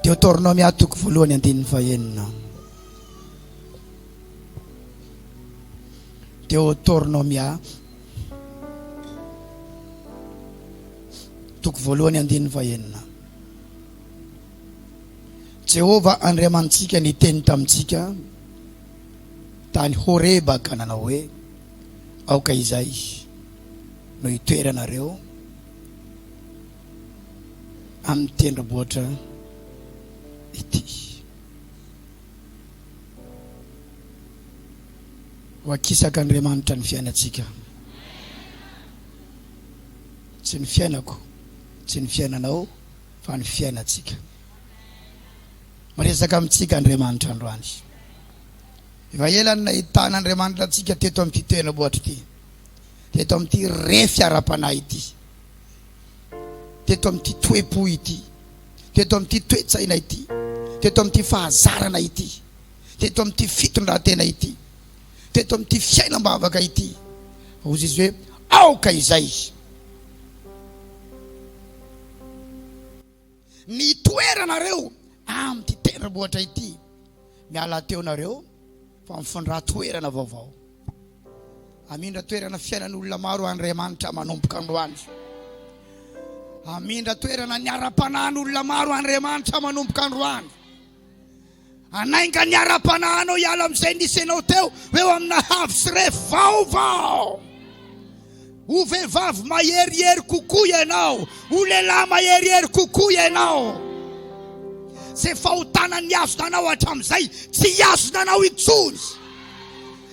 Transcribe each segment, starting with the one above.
Deoteronomia toko voalohany andininy fahenina. Deoteronomia toko voalohany andininy fahenina. Jehovah Andriamanitsika niteny tamintsika tany Horeba ka nanao hoe, Aoka izay no hitoeranareo. amin'ny tendrombohitra ity. Ho akisaka Andriamanitra ny fiainantsika. Tsy ny fiainako, tsy ny fiainanao, fa ny fiainantsika. Miresaka amintsika Andriamanitra androany. Efa ela ny nahitana Andriamanitra antsika teto amin'ity tendrombohitra ity, teto amin'ity refy ara-panahy ity. teto amin'ity toe-po ity, teto amin'ity toe-tsaina ity, teto amin'ity fahazarana ity, teto amin'ity fitondran-tena ity, teto amin'ity fiainam-bavaka ity. Hozy izy hoe, aoka izay. Ny toeranareo amin'ity tendrombohitra ity, miala teo nareo fa mifindra toerana vaovao. Hamindra toerana fiainan'olona maro Andriamanitra manomboka androany. Hamindra toerana ny ara-panahin'olona maro Andriamanitra manomboka androany. Hanainga ny ara-panahinao hiala amin'izay nisy anao teo, eo amina havy sy ref vaovao. Ho vehivavy maherihery kokoa ianao, ho lehilahy maherihery kokoa ianao. Izay fahotana nihazona anao hatramin'izay, tsy hihazona anao intsony.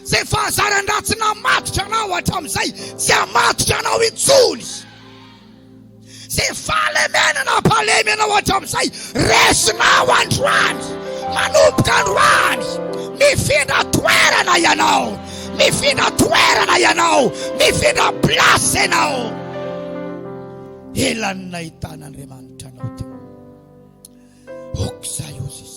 Izay fahazaran-dratsy namatotra anao hatramin'izay, tsy hamatotra anao intsony. Ze fahalemenana hampalemy anao hatramin'izay, resinao androany. Manomboka androany, mifindra toerana ianao, mifindra toerana ianao, mifindra place ianao. Ela ny nahitana Andriamanitra anao teo. Oxaiosis.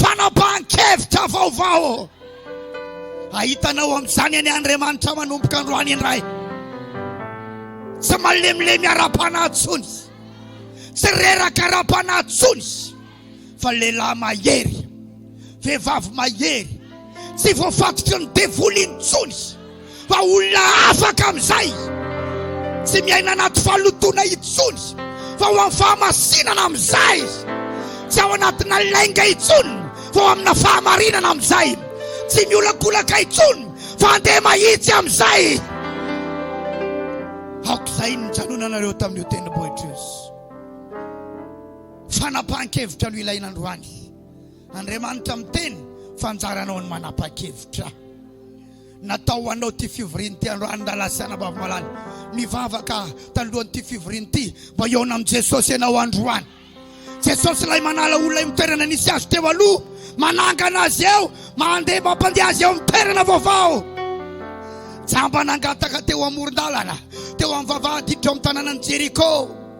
Fanapahan-kevitra vaovao. Ahitanao amin'izany anie Andriamanitra manomboka androany indray. Tsy malemilemy ara-panahy intsony. Tsy reraka ara-panahy intsony. Fa lehilahy mahery. Vehivavy mahery. Tsy voafatotry ny devoly intsony fa olona afaka amin'izay, tsy miaina anaty fahalotoana intsony fa ho amin'ny fahamasinana amin'izay, tsy ao anatina lainga intsony fa ho amina fahamarinana amin'izay, tsy miolakolaka intsony fa handeha mahitsy amin'izay. Aok'izay ny nijanonanareo tamin'io tendrombohitra io. Fanapahan-kevitra no ilaina androany. Andriamanitra miteny fa anjaranao ny manapa-kevitra. Natao ho anao ity fivoriana ity androany rahalahy sy anabavy malala. Mivavaka tanoloan'ity fivoriana ity mba hihaona amin'i Jesosy ianao androany. Jesosy ilay manala olona eo amin'ny toerana nisy azy teo aloha, manangana azy eo, mandeha mampandeha azy eo amin'ny toerana vaovao. Jamba nangataka teo amoron-dalana, teo amin'ny vavahadiditra ao amin'ny tanànan'i Jeriko.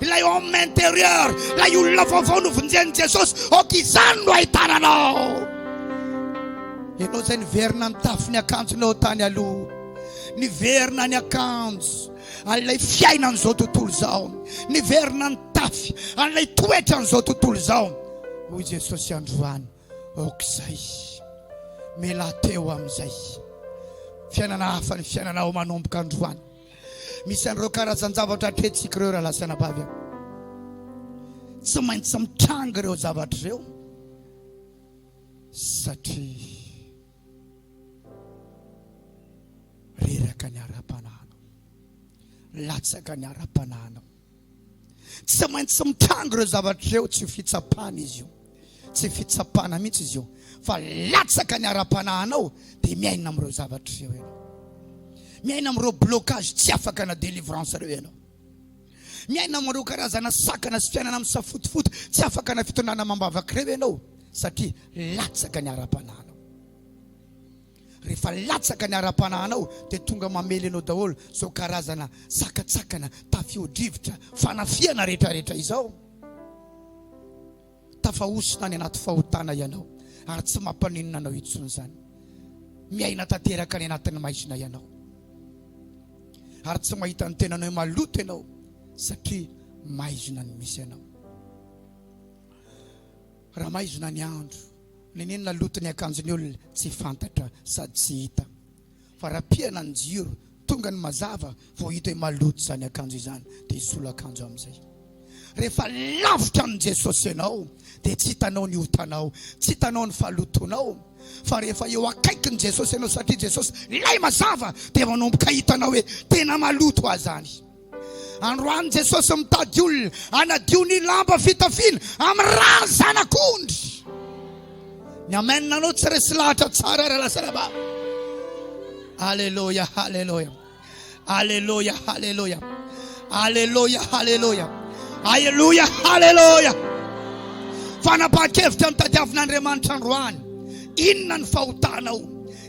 ilay homme intérieur, ilay olona vaovao novonjen'i Jesosy, ok izany no ahitana anao. Ianao izay niverina ny tafin'ny akanjonao tany aloha, niverina ny akanjo an'ilay fiainan'izao tontolo izao, niverina ny tafy an'ilay toetra an'izao tontolo izao. Hoy Jesosy androany, ok izay, mela teo amin'izay. Fiainana hafa ny fiainanao manomboka androany. Misy an'ireo karazan-javatra hatrehintsika ireo rahalahy sy anabavy a. Tsy maintsy mitranga ireo zavatra ireo satria reraka ny ara-panahinao, latsaka ny ara-panahinao. Tsy maintsy mitranga ireo zavatra ireo, tsy fitsapana izy io, tsy fitsapana mihitsy izy io, fa latsaka ny ara-panahinao dia miaina amin'ireo zavatra ireo ianao. Miaina amin'ireo blocage tsy afaka na délivrance ireo ianao. Miaina amin'ireo karazana sakana sy fiainana amin'ny safotofoto tsy afaka na fitondrana amam-bavaka ireo ianao satria latsaka ny ara-panahinao. Rehefa latsaka ny ara-panahinao dia tonga mamely anao daholo izao karazana sakatsakana, tafio-drivotra, fanafihana rehetrarehetra izao. Tafahosina any anaty fahotana ianao ary tsy mampaninona anao intsony izany. Miaina tanteraka any anatin'ny maizina ianao ary tsy mahita ny tenanao hoe maloto ianao satria maizina no misy anao. Raha maizina ny andro. Nenenina loto ny akanjon'ny olona tsy fantatra sady tsy hita. Fa raha pihana ny jiro, tonga ny mazava vao hita hoe maloto izany akanjo izany dia hisolo akanjo amin'izay. Rehefa lavitra amin'i Jesosy ianao dia tsy hitanao ny otanao, tsy hitanao ny fahalotoanao. Fa rehefa eo akaikin'i Jesosy ianao satria Jesosy ilay mazava dia manomboka hitanao hoe tena maloto aza any. Androany Jesosy mitady olona hanadio ny lamba fitafiana amin'ny ràn'ny Zanak'ondry. Ny amen anao tsy resy lahatra tsara ary alasaraba. Aleloia, aleloia. Aleloia, aleloia. Aleloia, aleloia. Aleloia, aleloia. Fanapahan-kevitra nitadiavina Andriamanitra androany. Inona ny fahotanao?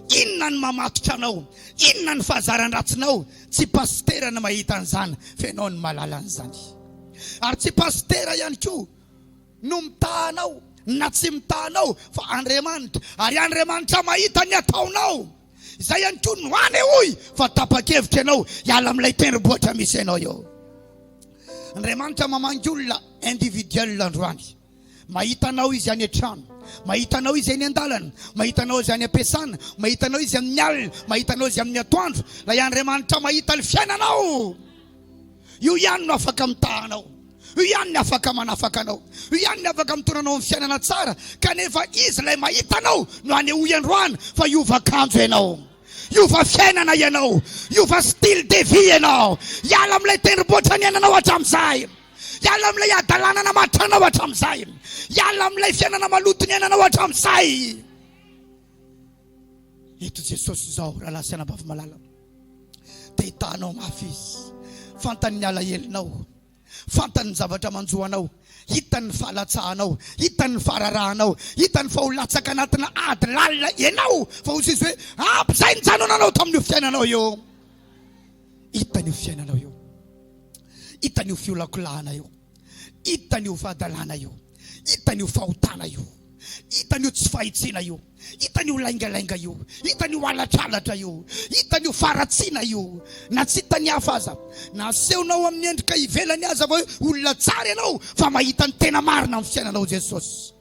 Inona ny mamatotra anao? Inona ny fahazaran-dratsinao? Tsy pasitera no mahita an'izany fa ianao no mahalala an'izany. Ary tsy pasitera ihany koa no mitaha anao na tsy mitaha anao fa Andriamanitra. Ary Andriamanitra mahita ny ataonao. Izay ihany koa no hanehoy fa tapa-kevitra ianao hiala amin'ilay tendrombohitra misy anao eo. Andriamanitra mamangy olona individuel androany. Mahita anao Izy any an-trano. Mahita anao Izy eny an-dalana. Mahita anao Izy any am-piasana. Mahita anao Izy amin'ny alina. Mahita anao Izy amin'ny atoandro. Ilay Andriamanitra mahita ny fiainanao. Io ihany no afaka mitaha anao. Io ihany ny afaka manafaka anao. Io ihany ny afaka mitondra anao amin'ny fiainana tsara. Kanefa Izy ilay mahita anao no hanehoy androany fa hiova kanjo ianao. Hiova fiainana ianao. Hiova style de vie ianao. Hiala amin'ilay tendrombohitra niainanao hatramin'izay. Hiala amin'ilay hadalana namatranao hatramin'izay. Hiala amin'ilay fiainana maloto niainanao hatramin'izay. Eto Jesosy izao rahalahy sy anabavy malala. Te hitanao mafy izy. Fantany ny alahelonao. Fantany ny zavatra manjo anao. Hitany ny fahalatsahanao. Hitany ny fahararahanao. Hitany fa ho latsaka anatina ady lalina ianao. Fa hoy izy hoe, ampy izay nijanonanao tamin'io fiainanao io. Hitany io fiainanao io, hitany io fiolakolahana io, hitany io fahadalana io, hitany io fahotana io, hitany io tsy fahitsiana io, hitany io laingalainga io, hitany io alatralatra io, hitany io faharatsiana io, na tsy hitan'ny hafa aza, na asehonao amin'ny endrika ivelany aza fa hoe olona tsara ianao, fa mahita ny tena marina amin'ny fiainanao Jesosy.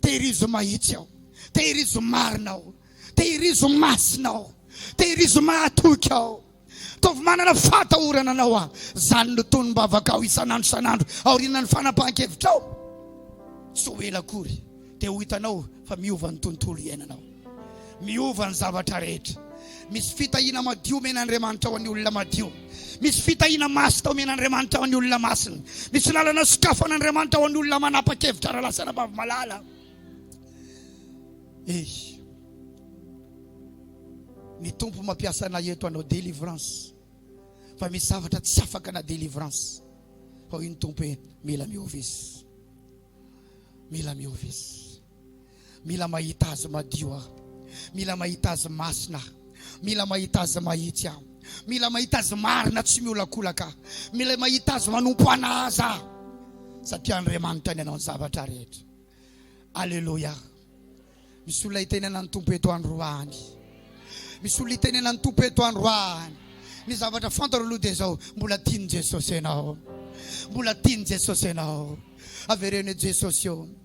Tehirizo mahitsy aho, tehirizo marina aho, tehirizo masina aho, tehirizo mahatoky aho. Ataovy manana fahatahorana anao aho. Izany no tonom-bavakao isan'andro isan'andro aorianan'ny fanapahan-kevitrao. Tsy ho ela akory dia ho hitanao fa miova ny tontolo iainanao. Miova ny zavatra rehetra. Misy fitahiana madio omena Andriamanitra ho an'ny olona madio. Misy fitahiana masina omena Andriamanitra ho an'ny olona masina. Misy lalana sokafan' Andriamanitra ho an'ny olona manapa-kevitra raha lasa anabavy malala. Ey. Ny Tompo mampiasa anay eto hanao délivrance. Fa misy zavatra tsy afaka na délivrance. Hoy ny Tompo hoe mila miova izy. Mila miova izy. Mila mahita Azy madio aho. Mila mahita Azy masina aho. Mila mahita Azy mahitsy aho. Mila mahita Azy marina tsy miolakolaka aho. Mila mahita Azy manompo ana Azy aho. Satria Andriamanitra ny anao ny zavatra rehetra. Aleloia. Misy olona itenenan'ny Tompo eto androany. Misy olona itenenan'ny Tompo eto androany. Ny zavatra fantaro aloha dia izao, mbola tian'i Jesosy ianao. Mbola tian'i Jesosy ianao. Avereno Jesosy eo.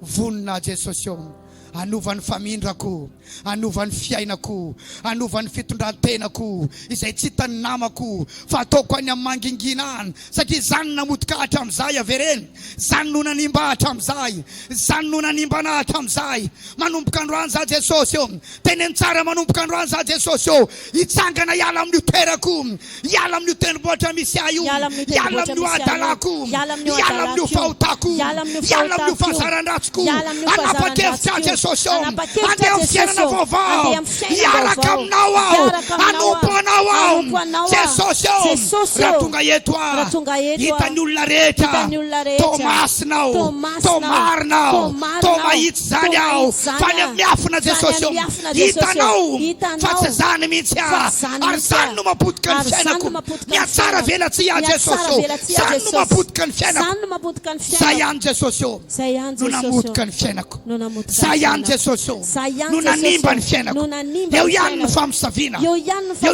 Vonona aho Jesosy ô, hanova ny famindrako, hanova ny fiainako, hanova ny fitondran-tenako izay tsy hitan'ny namako fa ataoko any amin'ny mangingina any satria izany no namotika ahy hatramin'izay, avereno, izany no nanimba ahy hatramin'izay, izany no nanimba anah hatramin'izay, manomboka androany za Jesosy ô, Teneno tsara manomboka androany za Jesosy ô! Hitsangana hiala amin'io toerako, hiala amin'io tendrombohitra misy ahy io, hiala amin'io adalako, hiala amin'io fahotako, hiala amin'io fahazaran-dratsiko, hanapa-kevitra aho Jesosy ô! Handeha amin'ny fiainana vaovao, hiaraka Aminao aho, hanompo Anao aho Jesosy ô! Raha tonga eto aho, hitan'ny olona rehetra, Tomasina aho, Tomarina aho, Toma Zany aho fa ny amin'ny afona Jesosy ô Hitanao fa tsy zany mihitsy aho Ary zany no mapotika ny fiainako Mihatsara velatsihy aho Jesosy ô Zany no mapotika ny fiainako Zah ihany Jesosy ô No namotika ny fiainako Zah ihany Jesosy ô No nanimba ny fiainako Eo ihany ny famosaviana Eo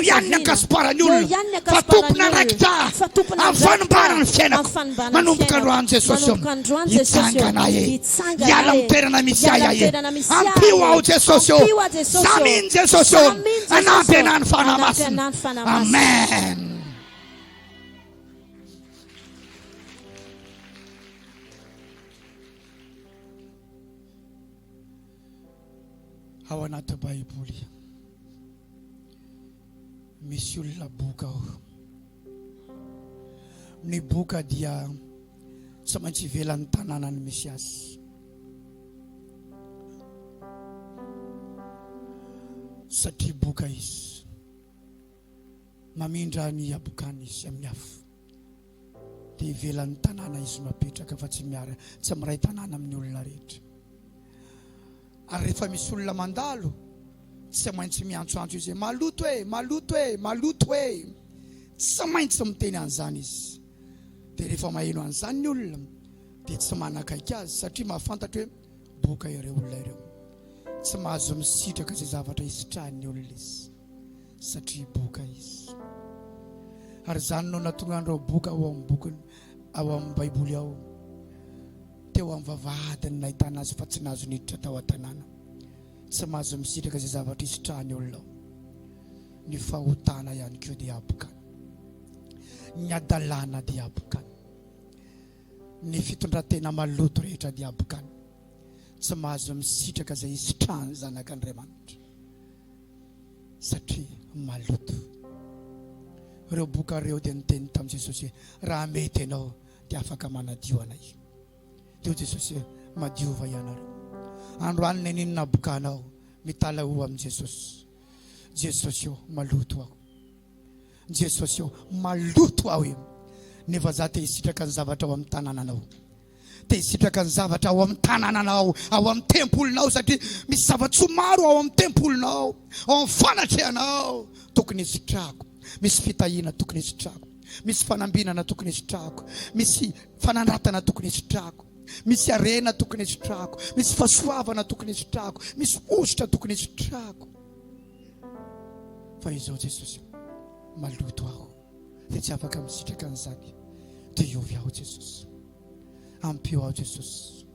ihany ny ankasiparan'ny olona Fa tompon'andraikitra aho Amin'ny fanimbaran'ny fiainako Manomboka androany Jesosy ô Hitsangana ahy e Hiala amin'ny toerana misy ahy ahe. Ampio aho Jesosy ô. Za mino Jesosy ô. Anampy anahy ny Fanahy Masina. Amen. Ao anaty Baiboly. Misy olona boka ao. Ny boka dia tsy maintsy ivelan'ny tanànany misy azy. Satria boka izy. Mamindra ny habokany izy amin'ny afo. dia ivelan'ny tanàna izy no apetraka fa tsy miara tsy miray tanàna amin'ny olona rehetra ary rehefa misy olona mandalo tsy maintsy miantsoantso izy hoe maloto e maloto e maloto e tsy maintsy miteny an'izany izy dia rehefa maheno an'izany ny olona dia tsy manakaiky azy satria mahafantatra hoe boka ireo olona ireo tsy mahazo misitraka izay zavatra hisitrahan'ny olona izy Satria boka izy. Ary izany no nahatonga an'ireo boka ao amin'ny bokiny, ao amin'ny Baiboly ao, teo amin'ny vavahadiny nahitana azy fa tsy nahazo niditra tao an-tanàna. Tsy mahazo misitraka izay zavatra hisitrahan'ny olona ao. Ny fahotana ihany koa dia habokana. Ny hadalana dia habokana. Ny fitondran-tena maloto rehetra dia habokana. Tsy mahazo misitraka izay hisitrahan'ny Zanak'Andriamanitra. satria maloto. Ireo boka ireo dia niteny tamin'i Jesosy hoe, raha mety ianao dia afaka manadio anay. Dia hoy Jesosy hoe, madiova ianareo. Androany neninona boka anao, mitala ho amin'i Jesosy. Jesosy eo, maloto aho. Jesosy eo, maloto aho eo. Nefa za te hisitraka ny zavatra ao amin'ny tanananao. Te hisitraka ny zavatra ao amin'ny tanànanao, ao amin'ny tempolinao, satria misy zava-tsoa maro ao amin'ny tempolinao, ao amin'ny fanatrehanao tokony hisitrako. Misy fitahiana tokony hisitrako. Misy fanambinana tokony hisitrako. Misy fanandratana tokony hisitrako. Misy harena tokony hisitrako. Misy fahasoavana tokony hisitrako. Misy hosotra tokony hisitrako. Fa izao Jesosy, maloto aho. dia tsy afaka misitraka an'izany dia hiovy aho Jesosy ampio aho Jesosy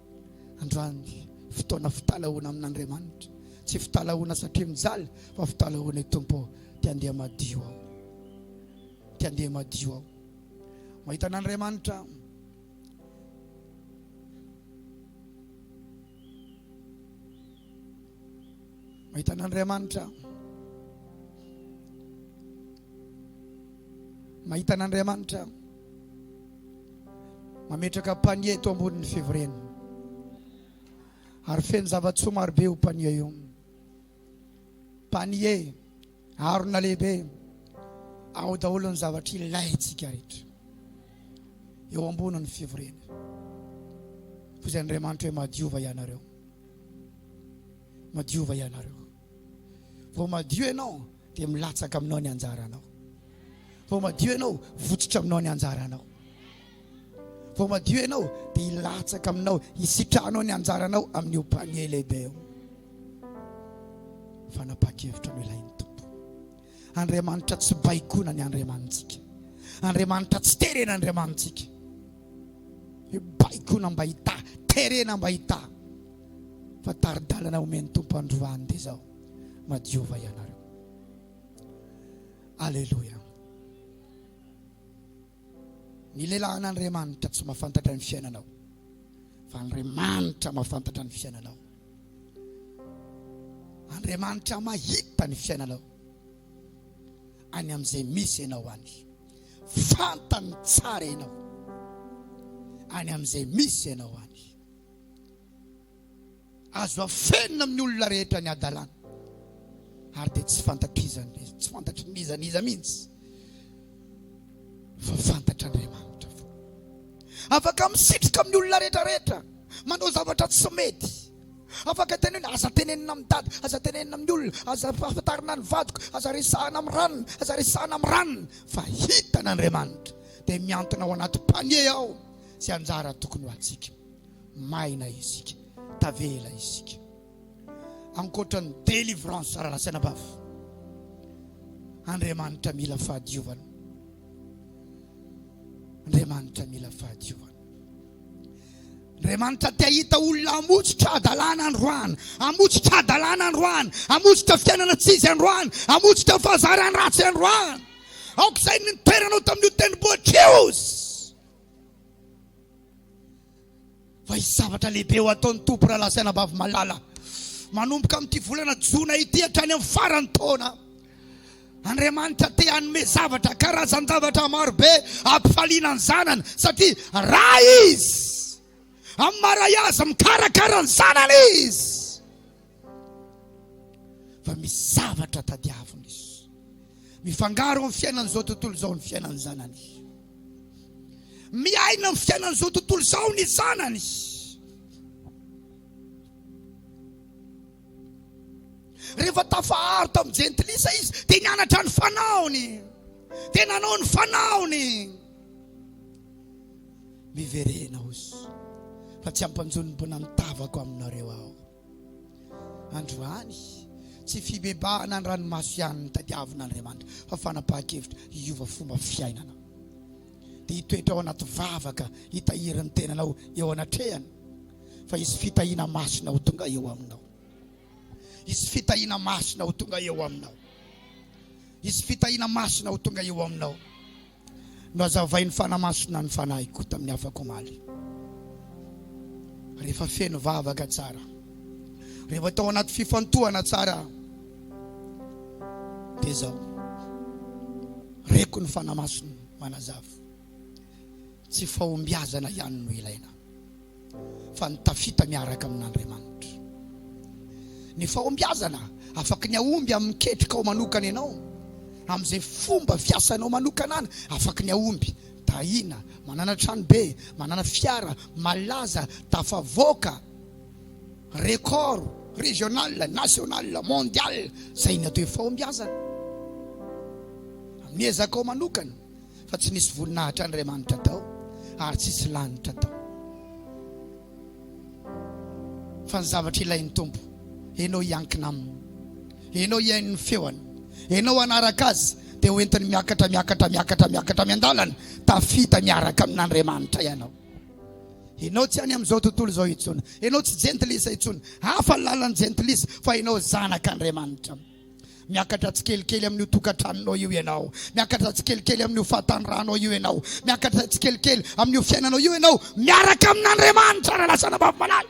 androany fotoana fitalahoana amin'Andriamanitra tsy fitalahoana satria mijaly fa fitalahoana i Tompo dia andeha madio aho dia andeha madio aho mahita an'Andriamanitra Mahita an'Andriamanitra. Mahita an'Andriamanitra. Mametraka panier eto ambonin'ny fivoriana. Ary feno zava-tsoa marobe io panier io. Panier harona lehibe ao daholo ny zavatra ilaintsika rehetra. Eo ambonin'ny fivoriana. Fizay Andriamanitra hoe madiova ianareo. Madiova ianareo. Vao madio ianao dia milatsaka aminao ny anjaranao. Vao madio ianao, votsitra aminao ny anjaranao. Vao madio ianao dia hilatsaka aminao, hisitranao ny anjaranao amin'io panier lehibe io. Fanapaha-kevitra no ilain'ny Tompo. Andriamanitra tsy baikona ny Andriamanitsika. Andriamanitra tsy terena Andriamanitsika. Hoe baikona mba hitaha, terena mba hitaha. Fa tari-dalana omen'ny Tompo androany dia izao, madiova ianareo. Alléluia. Ny lelan'Andriamanitra tsy mahafantatra ny fiainanao fa Andriamanitra mahafantatra ny fiainanao. Andriamanitra mahita ny fiainanao any amin'izay misy ianao any. Fantany tsara ianao any amin'izay misy ianao any. Azo afenina amin'ny olona rehetra ny hadalana, ary dia tsy fantatr'iza n'iza, tsy fantatry n'iza n'iza mihitsy, fa fantatr'Andriamanitra foana. Afaka misitrika amin'ny olona rehetra rehetra, manao zavatra tsy mety. Afaka tena hoe aza tenenina amin'ny dada, aza tenenina amin'ny olona, aza afantarina ny vadiko, aza resahana amin'ny ranona, aza resahana amin'ny ranona, fa hitan'Andriamanitra. Dia mihantona ao anaty panier ao izay anjara tokony ho antsika. Maina isika, tavela isika. Ankoatra ny délivrance ary nasain'abafo, Andriamanitra mila fahadiovana. Andriamanitra mila fahadiovana. Andriamanitra te hahita olona hamotsitra hadalana androany, hamotsitra hadalana androany, hamotsitra fiainana tsy izy androany, hamotsitra fahazarana ratsy androany. Aoka izay ny toeranao tamin'io tendrombohitra io. Fa hisy zavatra lehibe ho ataon'ny Tompo raha lasa anabavy malala. Manomboka amin'ity volana jona ity hatrany amin'ny faran'ny taona, Andriamanitra te hanome zavatra, karazan-javatra marobe hampifaliana ny zanany, satria raha Izy amin'ny maray azy mikarakara ny zanany Izy. fa misy zavatra tadiaviny izy mifangaro amin'ny fiainan'izao tontolo izao ny fiainan'ny zanany miaina amin'ny fiainan'izao tontolo izao ny zanany rehefa tafaharo tamin'ny jentilisa izy dia nianatra ny fanaony dia nanao ny fanaony miverena ozy fa tsy ampanjon'ny mponan'ny tavako aminareo aho Androany, tsy fibebahana ny ranomaso ihany no tadiavin'Andriamanitra fa fanapahan-kevitra hiova fomba fiainana. Dia hitoetra ao anaty vavaka hitahiry ny tenanao eo anatrehany fa hisy fitahiana masina ho tonga eo aminao. Hisy fitahiana masina ho tonga eo aminao. Hisy fitahiana masina ho tonga eo aminao. Nohazavain'ny Fanahy Masina ny fanahiko tamin'ny afaka omaly, rehefa feno vavaka tsara, rehefa tao anaty fifantohana tsara aho. Dia izao, reko ny Fanahy Masina manazava, tsy fahombiazana ihany no ilaina. fa ny tafita miaraka amin'Andriamanitra. Ny fahombiazana afaka ny hahomby amin'ny ketrikao manokana ianao, amin'izay fomba fiasanao manokana ana, afaka ny hahomby, tahiana, manana tranobe, manana fiara, malaza, tafavoaka, record régional, national, mondial, izay ny atao hoe fahombiazana. Amin'ny ezakao manokana. fa tsy nisy voninahitr' Andriamanitra tao ary tsisy lanitra tao fa ny zavatra ilain'ny Tompo enao hiankina aminy enao hihaino ny feony enao hanaraka azy dia hoentiny miakatra miakatra miakatra miakatra miandalana tafita miaraka amin'Andriamanitra ianao enao tsy any amin'izao tontolo izao intsony enao tsy jentilisa intsony hafa ny lalan'ny jentilisa fa enao zanak'Andriamanitra Miakatra tsikelikely amin'io tokantranonao io ianao. Miakatra tsikelikely amin'io fahatanorànao io ianao. Miakatra tsikelikely amin'io fiainanao io ianao miaraka amin'Andriamanitra, raha lasa anabavy malaly.